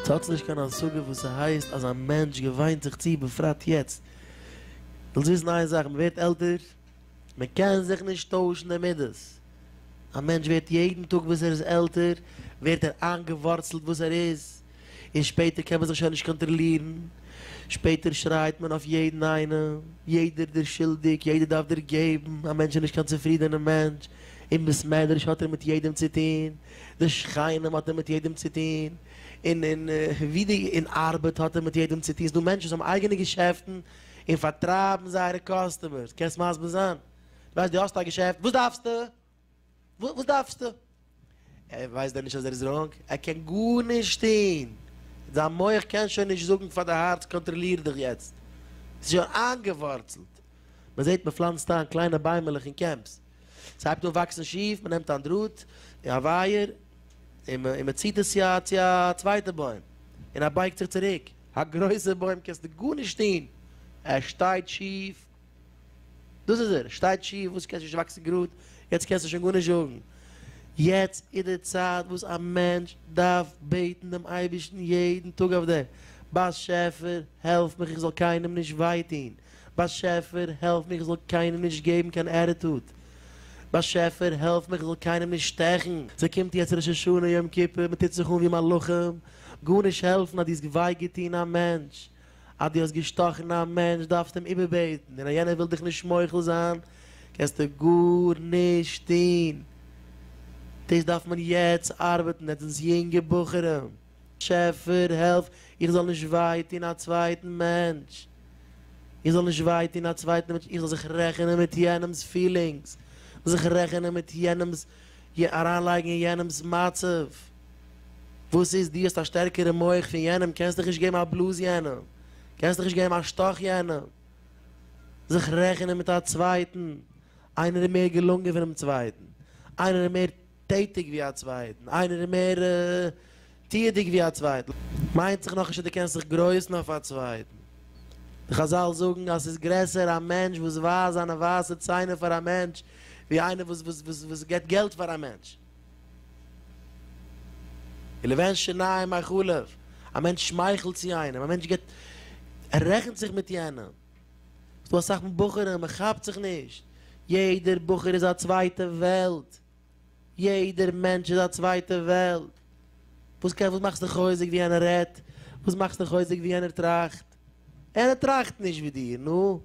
ס'האט נישט קיין השגה וואס ס'הייסט אז א מענטש געוויינט זיך צו, בפרט יעצט. ווילסט וויסן איין זאך, מ'ווערט עלטער, מ'קען זיך נישט טוישן די מידות. א מענטש ווערט יעדן טאג וואס ער איז עלטער, ווערט ער איינגעווארצלט וואס ער איז. און שפעטער קען מען זיך שוין נישט קאנטראלירן, שפעטער שרייט מען אויף יעדן איינעם, יעדער דער שולדיג, יעדער דארף דערגעבן, א מענטש איז נישט קיין צופרידענער מענטש, אין בית מדרש האט ער מיט יעדעם צו טון, די שכנים האט ער מיט יעדעם צו טון, און אין ווי די אין ארבעט האט ער מיט יעדעם צו טון, ס'דא מענטשן וואס האבן אייגענע געשעפטן און פארטרייבן זייערע קאסטומערס, קענסט מסביר זיין? דו ווייסט דו האסט א געשעפט, וואס דארפסטו? וואס דארפסטו? ער ווייסט דען נישט אז ער איז ראנג? ער קען גארנישט טון! זיין מח קען שוין נישט זאגן פאר די הארץ קאנטראליר דיך יעצט! ס'איז שוין איינגעווארצלט! מ'זעט מ'פלאנצט איין קליינע ביימעלעך אין קעמפס, ס'הייבט אן וואקסן שיף, מ'נעמט איין דראט, א ווייער, און מ'ציט עס צו א צווייטע בוים, און ער בייגט זיך צוריק. א גרויסע בוים קענסטו גארנישט טון! ער שטייט שיף! דאס איז ער, שטייט שיף, וואס קענסטו נישט וואקסן גראד, יעצט קענסטו שוין גארנישט זאגן. יעצט איז די צייט וואס א מענטש דארף בעטן דעם אייבערשטן יעדן טאג אויף דעם, באשעפער העלף מיך איך זאל קיינעם נישט וויי טון, באשעפער העלף מיך איך זאל קיינעם נישט געבן קיין עטיטוד, באשעפער העלף מיך איך זאל קיינעם נישט שטעכן. ס'קומט יעצט ראש השנה יום כיפור, מ'טוט זיך אן ווי מלאכים, גארנישט העלפן אז דו האסט וויי געטון א מענטש, אז דו האסט געשטאכן א מענטש דארפסטו אים איבערבעטן, און אז יענער וויל דיך נישט מוחל זיין קענסטו גארנישט טון. דאס דארף מען יעצט ארבעטן, עטס זענטס יונגע בחורים, טשעפער העלף איך זאל נישט וויי טון א צווייטן מענטש, איך זאל נישט וויי טון א צווייטן מענטש, איך זאל זיך רעכענען מיט יענעמ'ס פילינגס, זיך רעכענען מיט יענעמ'ס י אריינלייגן אין יענעמ'ס מצב, וואס איז דו האסט א שטערקערע מח פון יענעם קענסט דיך נישט געבן א בלאז יענעם, קענסט דיך נישט געבן א שטאך יענעם, זיך רעכענען מיט א צווייטן, איינער איז מער געלונגען פונעם צווייטן, איינער איז מער טעטיג ווי א צווייטן, איינער איז מער. טוה דיג ווי א צווייטן מיינט זיך נאכנישט אז דו קענסט זיך גרויסן אויף א צווייטן. די חזל זאגן אז ס'איז גרעסער א מענטש וואס ווייזט זיינע ווייסע ציינער פאר א מענטש, ווי איינער וואס וואס וואס וואס גיבט געלט פאר א מענטש. און לבן שיניים מחלף, א מענטש שמייכלט צו איינעם, א מענטש גיבט, ער רעכנט זיך מיט יענעם. ס'דא אסאך בחורים, מ'כאפט זיך נישט. יעדער בחור איז א צווייטע וועלט. יעדער מענטש איז א צווייטע וועלט. וואס קען וואס מאכסט דיך חוזק ווי יענער רעדט? וואס מאכסט דיך חוזק ווי יענער טראכט? יענער טראכט נישט ווי דיר, נו?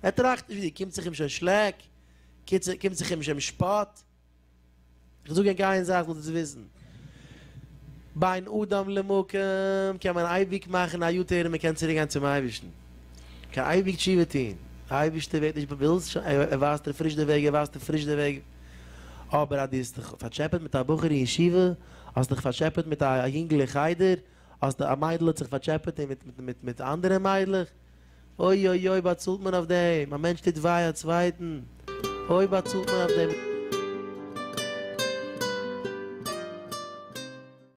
ער טראכט נישט ווי דיר, קומט זיך אים שוין שלעק? קיצער, קומט זיך אים שוין משפט? איך זאג ענק איין זאך זאלט עטס וויסן, בין אדם למקום קען מען אייביג מאכן א יו-טערן און מען קען צוריק גיין צום אייבערשטן. מען קען אייביג תשובה טון. דער אייבערשטער ווערט נישט באבעלזט, ער ווייזט דיר פריש די וועג, ער ווייזט דיר פריש די וועג. אבער אז דו האסט דיך פארטשעפעט מיט א בחור אין ישיבה, האסט דיך פארטשעפעט מיט א יונגל אין חדר, האסט א מיידל האט זיך פארטשעפעט אין מיט מיט מיט מיט אנדערע מיידלעך, אוי אוי אוי באצאלט מען אויף דעם, א מענטש טוט וויי א צווייטן, אוי באצאלט מען אויף דעם.